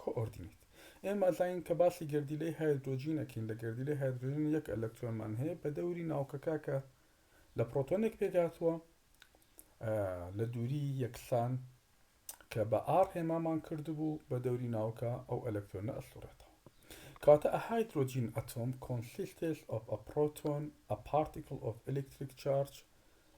کۆئۆردینەیت ئێمە ئەزانین کە باسی گەردیلەی هایدرۆجین ئەکەین لە گەردیلەی هایدرۆجین یەک ئەلەکترۆنمان هەیە بە دەوری ناوکەکە کە لە پرۆتۆنێک پێکهاتووە لە دووری یەکسان کە بە ئاڕ هێمامان کردبوو بە دەوری ناوکە ئەو ئەلەکترۆنە ئەسوڕێتەوە کاتە ئە هایدرۆجین ئەتۆم کۆنسیستێس ئۆف ئە پرۆتۆن ئە پارتیکل ئۆف ئەلکتریک چارج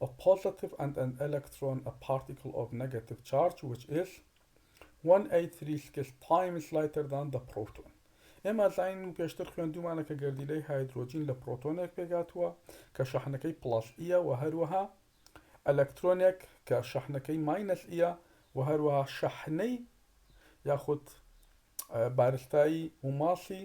ئە پۆزەتیڤ ئەند ئەن ئەلەکترۆن ئە پارتیکل ئۆف نەگەتیڤ چارج وچ ئێس وەن ئەیت ثری سکس تایمس لایتەر دان دە پڕۆتۆن ئێمە ئەزانین و پێشتر خوێندوومانە کە گەردیلەی هایدرۆجین لە پڕۆتۆنێک پێکهاتووە کە شەحنەکەی پڵەس ی یە وە هەروەها ئەلەکترۆنێک کە شەحنەکەی ماینەس ی یە وە هەروەها شەحنەی یاخود بارستایی و ماسی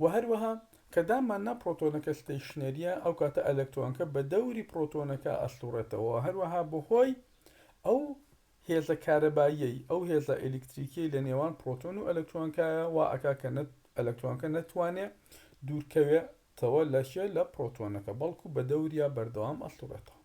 و هەروەها کە دانمان نا پڕۆتۆنەکە ستەیشنەرییە ئەو کاتە ئەلەکترۆنەکە بە دەوری پڕۆتۆنەکە ئەسوڕێتەوە هەروەها بەهۆی ئەو هێزە کارەباییەی ئەو هێزە ئەلیکتریکیەی لە نێوان پڕۆتۆن و ئەلەکترۆنکایە وا ئەکا کە ئەلەکترۆنەکە نەتوانێ دوورکەوێتەوە لە کێ لە پڕۆتۆنەکە بەڵکو بە دەوریا بەردەوام ئەسوڕێتەوە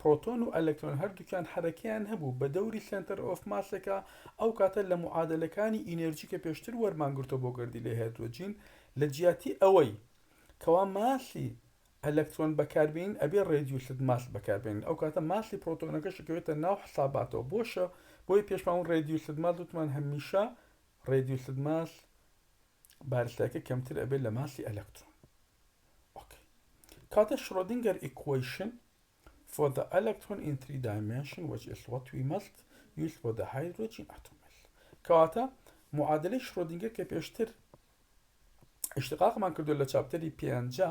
پرۆتۆن و ئەلەکترۆن هەردووکیان حەرەکەیان هەبوو بە دەوری سێنتەر ئۆف ماسێکا، ئەو کاتە لە معادەلەکانی ئینێرجی کە پێشتر وەرمان گرتووە بۆ گەردیلەی هەیدرۆجین لە جیاتی ئەوەی کەوا ماسی ئەلەکترۆن بەکار بێنین ئەبێ ڕێدیوسد ماس بەکار بێنین ئەو کاتە ماسی پرۆتۆنەکەش ئەکەوێتە ناو حساباتەوە بۆشە بۆیە پێشمان وت ڕێدیوسد ماس وتمان هەمیشە ڕێدیوسد ماس بارستایەکە کەمتر ئەبێت لە ماسی ئەلەکترۆن ئۆکەی کاتە شرۆدینگەر ئیکوەیشن for the electron in three dimension which is what we must use for the hydrogen atom کەواتە معادلەی شرۆدینگەر کە پێشتر اشتقاقمان کردو لە چاپتەری پێنجە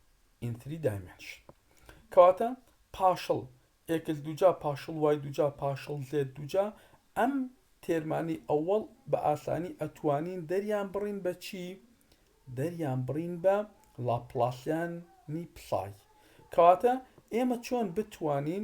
in three dimension کەواتە پاشڵ ئێکس دووجا پاشڵ وای دووجا پاشڵ زێت دووجا ئەم تێرمانی ئەوەڵ بە ئاسانی ئەتوانین دەریان بڕین بە چی دەریان بڕین بە لاپلاسیانی پسای کەواتە ئێمە چۆن بتوانین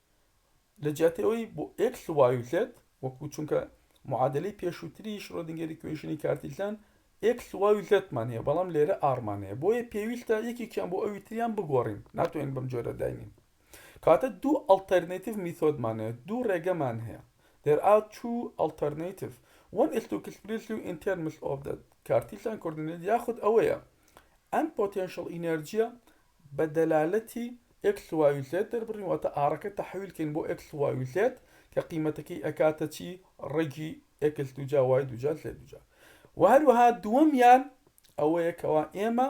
لەجیاتی ئەوەی بۆ ئێکس وایوتلێت وەکو چونکە معادلەی پێشووتری شرۆدنگەری کوێژنی کارتیلتان ئێکس وایوتلێتمان هەیە بەڵام لێرە ئاڕمان هەیە بۆیە پێویستە یەکێکیان بۆ ئەوی تریان بگۆڕین ناتوانین بەم جۆرە داینین کاتە دوو ئەڵتەرنەیتیڤ میتۆدمان هەیە دوو ڕێگەمان هەیە there are two alternative one is to express you in terms of the کارتیلتان کۆردینێت یاخود ئەوەیە ئەم پۆتێنشڵ ئینێرجیە بە دەلالەتی ئێکس وای زێد دەربڕین واتە ئاڕەکە تەحویل کەین بۆ ئێکس وای زێد کە قیمەتەکەی ئەکاتە چی ڕەگی ئێکس دووجا وای دووجا زێد دووجا و هەروەها دووەمیان ئەوەیە کەوا ئێمە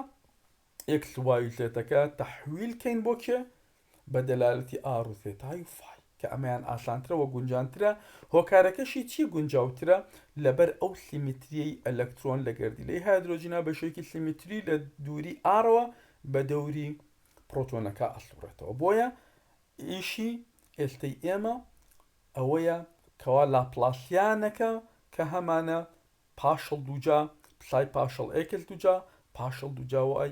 ئێکس وای زێتەکە تەحویل کەین بۆ کێ بە دەلالەتی ئاڕ و زێتای و فای کە ئەمەیان ئاسانترە و گونجانترە، هۆکارەکەشی چی گونجاوترە؟ لەبەر ئەو سیمیتریەی ئەلەکترۆن لە گەردیلەی هایدرۆجینا بەشێکی سیمیتری لە دووری ئاڕەوە بە دەوری پڕۆتۆنەکە ئەسوڕێتەوە بۆیە ئیشی ئێستەی ئێمە ئەوەیە کەوا لاپلاسیانەکە کە هەمانە پاشڵ دووجا پسای پاشڵ ئێکس دووجا پاشڵ دووجا وای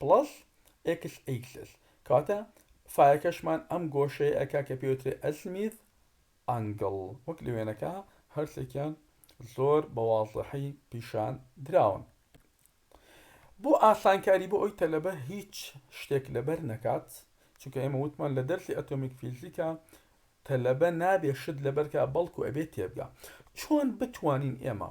پڵەس ئێکس ئیکسس کەواتە فایەکەشمان ئەم گۆشەیە ئەکا کە پێی وترێ ئەزمیث ئەنگڵ وەک لە وێنەکە هەرسێکیان زۆر بە وازحی پیشان دراون بۆ ئاسانکاری بۆ ئەوی تەلەبە هیچ شتێک لەبەر نەکات چونکە ئێمە وتمان لە دەرسی ئەتۆمیک فیزیکا تەلەبە نابێ شت لەبەرکە بەڵکو ئەبێت تێبگا چۆن بتوانین ئێمە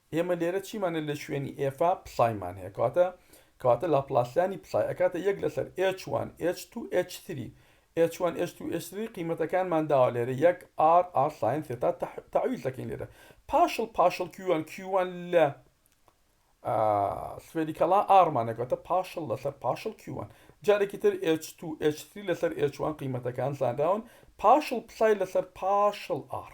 ئێمە لێرە چیمان هەیە لە شوێنی ئێفا پسایمان هەیە کەواتە کەواتە لاپلاسیانی پسای ئەکاتە یەک لەسەر ئێچ وان ئێچ توو ئێچ سری ئێچ وان ئێچ توو ئێچ سری قیمەتەکانمان داوە لێرە یەک ئار ئار ساین سێتا تەح تەعویز دەکەین لێرە پاشڵ پاشڵ کیو وان کیو وان لە ئا سفێریکەڵا ئارمانە کەواتە پاشڵ لەسەر پاشڵ کیو وان جارێکی تر ئێچ توو ئێچ سری لەسەر ئێچ وان قیمەتەکان زانراون پاشڵ پسای لەسەر پاشڵ ئار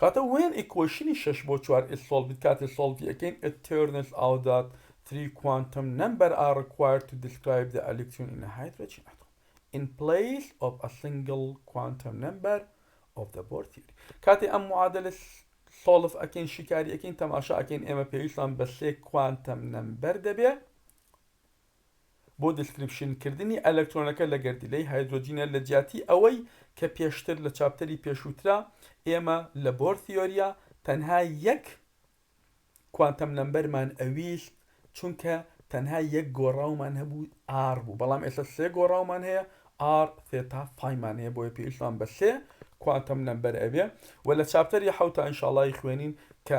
کاتە وێن ئیکۆیشنی شەش بۆ چوار ئس سۆڵڤیت کاتێ سۆڵڤی ئەکەین ئێت تێرنس ئاو دات تری کوانتەم نەمبەر ئا ڕکوایرد تو دیسکرایب دە ئەلیکترۆن ئین ئە هایدرەجین ئەتۆم ئین پلەیس ئۆف ئە سینگڵ کوانتەم نەمبەر ئۆف دە بۆر تیۆری کاتێ ئەم معادلە سۆڵف ئەکەین شیکاری ئەکەین تەماشا ئەکەین ئێمە پێویستمان بە سێ کوانتەم نەمبەر دەبێ بۆ دسکریپشن کردنی ئەلەکترۆنەکە لە گەردیلەی هایدرۆجینە لە جیاتی ئەوەی کە پێشتر لە چاپتەری پێشووترا ئێمە لە بۆر ثیۆریا تەنها یەک کوانتەم نەمبەرمان ئەویست چونکە تەنها یەک گۆڕاومان هەبوو R بوو بەڵام ئێستا سێ گۆڕاومان هەیە R ثێتا فای مان هەیە بۆیە پێویستمان بە سێ کوانتەم نەمبەر ئەبێ و لە چاپتەری حەوتا ئینشاڵای خوێنین کە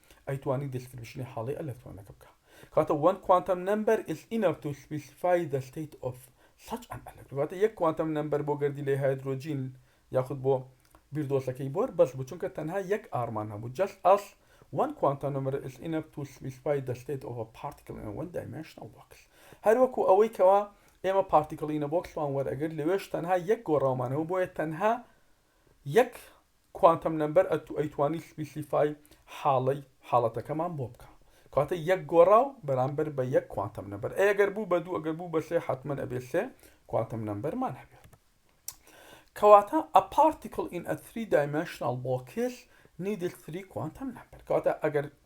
ئەیتوانی دیسکریپشنی هاڵی ئەلەکترۆنەکە بکا کەواتە وەن کوانتەم نەمبەر ئیس ئینەف تو سپیسیفای دە ستەیت ئۆف سەچ ئەن ئەلەکترۆن واتە یەک کوانتەم نەمبەر بۆ گەردیلەی هایدرۆجین یاخود بۆ بیردۆزەکەی بۆر بەس بوو چونکە تەنها یەک ئارمان هەبوو جەست ئەس وەن کوانتەم نەمبەر ئیس ئینەف تو سپیسیفای دە ستەیت ئۆف ئە پارتیکل ئین وەن دایمێنشنەڵ بۆکس هەروەکو ئەوەی کەوا ئێمە پارتیکل ئینە بۆکسمان وەرئەگرت لەوێش تەنها یەک گۆڕاومان هەبوو بۆیە تەنها یەک کوانتەم نەمبەر ئەیتوانی سپیسیفای حاڵەی حاڵەتەکەمان بۆ بکا کەواتە یەک گۆڕاو بەرامبەر بە یەک کوانتەم نەمبەر ئەی ئەگەر بوو بە دوو ئەگەر بوو بە سێ حەتمەن ئەبێ سێ کوانتەم نەمبەرمان هەبێ کەواتە a particle in a three dimensional box needed three quantum number کەواتە ئەگەر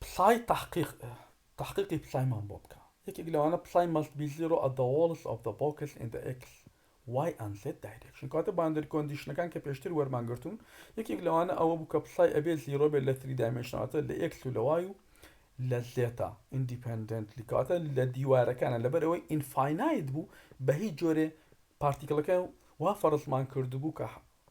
پسای تەحقیق تەحقیقی پسایمان بۆ بکە یەکێک لەوانە پسای مەست بی زیرۆ ئەت دە وۆڵس ئۆف دە بۆکس ئین دە ئێکس وای ئەن زێد دایرێکشن کەواتە باندەر کۆندیشنەکان کە پێشتر وەرمان گرتوون یەکێک لەوانە ئەوە بوو کە پسای ئەبێ زیرۆ بێت لە تری دایمێنشنەڵ واتە لە ئێکس و لە وای و لە زێتا ئیندیپێندێنتلی کەواتە لە دیوارەکانە لەبەر ئەوەی ئینفاینایت بوو بە هیچ جۆرێ پارتیکڵەکە وا فەڕزمان کردبوو کە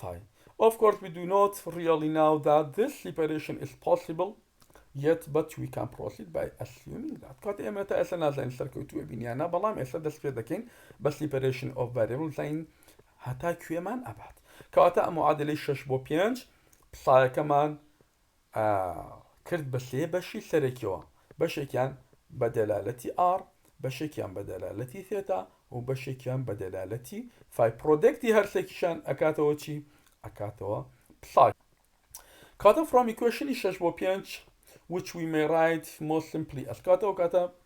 فاین ئۆف کۆرس وی دو نۆت ڕیەڵی ناو دات زیس سیپەرەیشن ئیس پۆسیبڵ یەت بەت وی کان پڕۆسید بای ئەسیومینگ دات کات ئێمە تا ئێستا نازانین سەرکەوتووە بین یان نا بەڵام ئێستا دەست پێ دەکەین بە سیپەرەیشن ئۆف ڤەریبڵ زین هەتا کوێمان ئەبات کەواتە ئەم معادلەی شەش بۆ پێنج پسایەکەمان کرد بە سێ بەشی سەرەکیەوە، بەشێکیان بە دەلالەتی ئاڕ، بەشێکیان بە دەلالەتی ثێتا و بەشێکیان بە دەلالەتی فای پڕۆدەکتی هەرسێکیشیان ئەکاتەوە چی؟ ئەکاتەوە پساک. کاتە فڕۆم ئیکوێشنی شەش بۆ پێنج which we may write most simply ئەسکاتەوە کاتە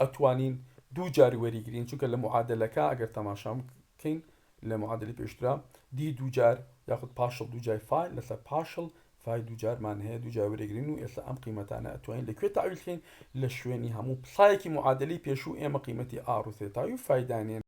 ئەتوانین دوو جار وەریگرین چونکە لە معادەلەکە ئەگەر تەماشا بکەین لە معادلی پێشترا دی دوو جار یاخود پاشڵ دوو جای فای لەسەر پاشڵ فای دوو جارمان هەیە دوو جار وەرەگرین و ئێستا ئەم قیمەتانە ئەتوانین لەکوێ تاویلکەین لە شوێنی هەموو پسایەکی معادلی پێشوو ئێمە قیمەتی ئاڕوسێتاوی فایدانێن